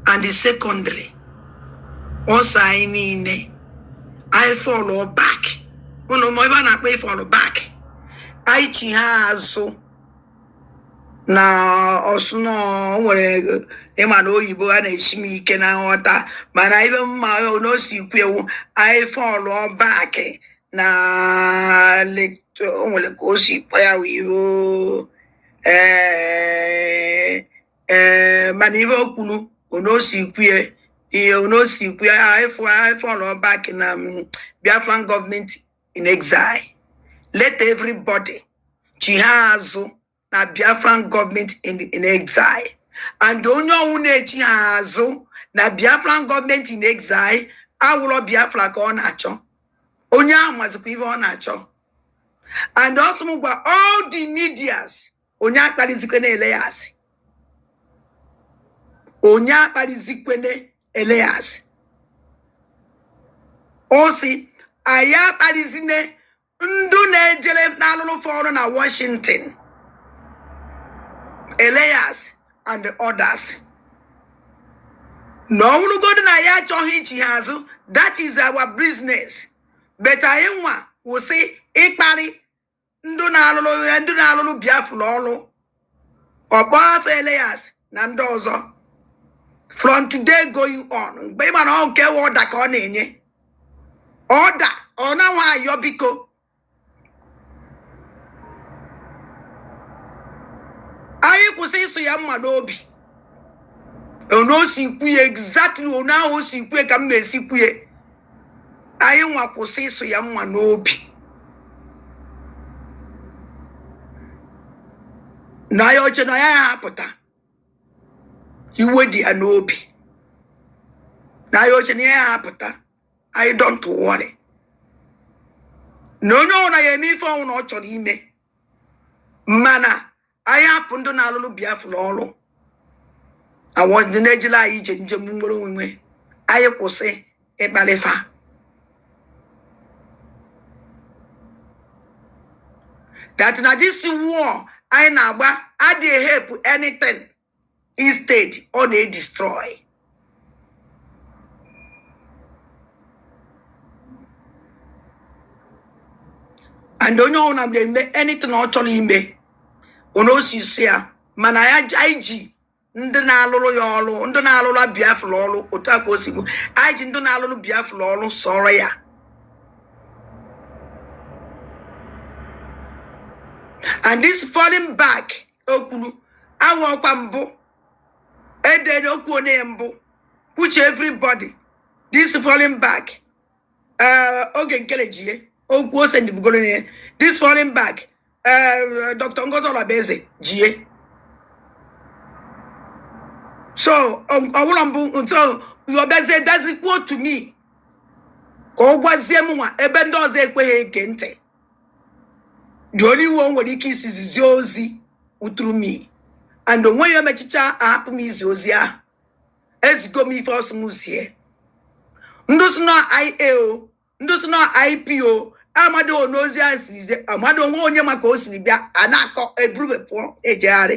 and secondly ọ sị anyị niile anyị fall back ụnụ ma ihe a na-akpọ ịfall back anyị chiha azụ na ọsụ na o nwere ịma na oyibo a na-esi m ike na nghọta mana ihe m ma na o si kwue wụ anyị fall back na lit- o nwere ka o si kpọ ya wụ iwu ee ee mana ihe o kwuru ono si kwue ihe ono si kwue ịfall back na mm, biafran government in exile let everybody chiha azụ na biafran government in in exile and onye ọnwụna echiha azụ na biafran government in exile awụrọ biafra ka ọ na-achọ onye ahụ mazikwa ihe ọ na-achọ and also gwa all the medias onye akparizikwena Elias onye akparizikwena Elias ọ sị anyị akparizine ndụ na-ejere na-alụrụ fa ọrụ na Washington Elias and others na ọ nwụrụgodu na ya achọghị ichiha azụ that is our business but anyị nwa kwụsị ịkparị ndị na-alụrụ ya ndị na-alụrụ biafra ọrụ ọ kpọ afa Elias na ndị ọzọ from today going on mgbe ị mara ọ nke order ka ọ na-enye order ọ na-anwa ayọ biko anyị kwụsị ịsụ ya mma n'obi ono si kwuye exactly ono ahụ o si kwuye ka m na-esi kwuye anyị nwa kwụsị ịsụ ya mma n'obi na ya oche na ya ya apụta iwe dị ya n'obi na ya oche na ya ya apụta anyị don't worry na onye ọbụla ya eme ife ọnwụna ọ chọrọ ime mana anyị hapụ ndị na-alụrụ biafra ọrụ awọ ndị na-ejila anyị ije njem nwere onwe anyị kwụsị ịkparị fa that na this war anyị na-agba adịghị help anything instead ọ na-edestroy and onye ọbụla na-eme anything ọ chọrọ ime ono o si sị ya mana ya anyị ji ndị na-alụrụ ya ọrụ ndị na-alụrụ biafra ọrụ otu a ka o si bụ anyị ji ndị na-alụrụ biafra ọrụ sọọrọ ya and this falling back o kwuru awa ọkwa mbụ edere okwu onye mbụ which everybody this falling back eh, oge nkele ji ya okwu ose ndị bugoro ya this falling back eh, dr ngozi ọlọbeze ji ya so ọwụrụ mmụọ nsọ ọ bịazie bịazi kwuo to me ka ọ gwazie m nwa ebe ndị ọzọ ekweghị ege ntị the only one nwere ike isizi zie ozi through me and onwe ya emechicha ahapụ m izi ozi ahụ ezigo m ife ọ sị m zie ndị si na ia o ndị si na ip o amadụ onye ozi ahụ si zie amadụ onwe onye maka o siri bịa a na-akọ eburube pụọ ejegharị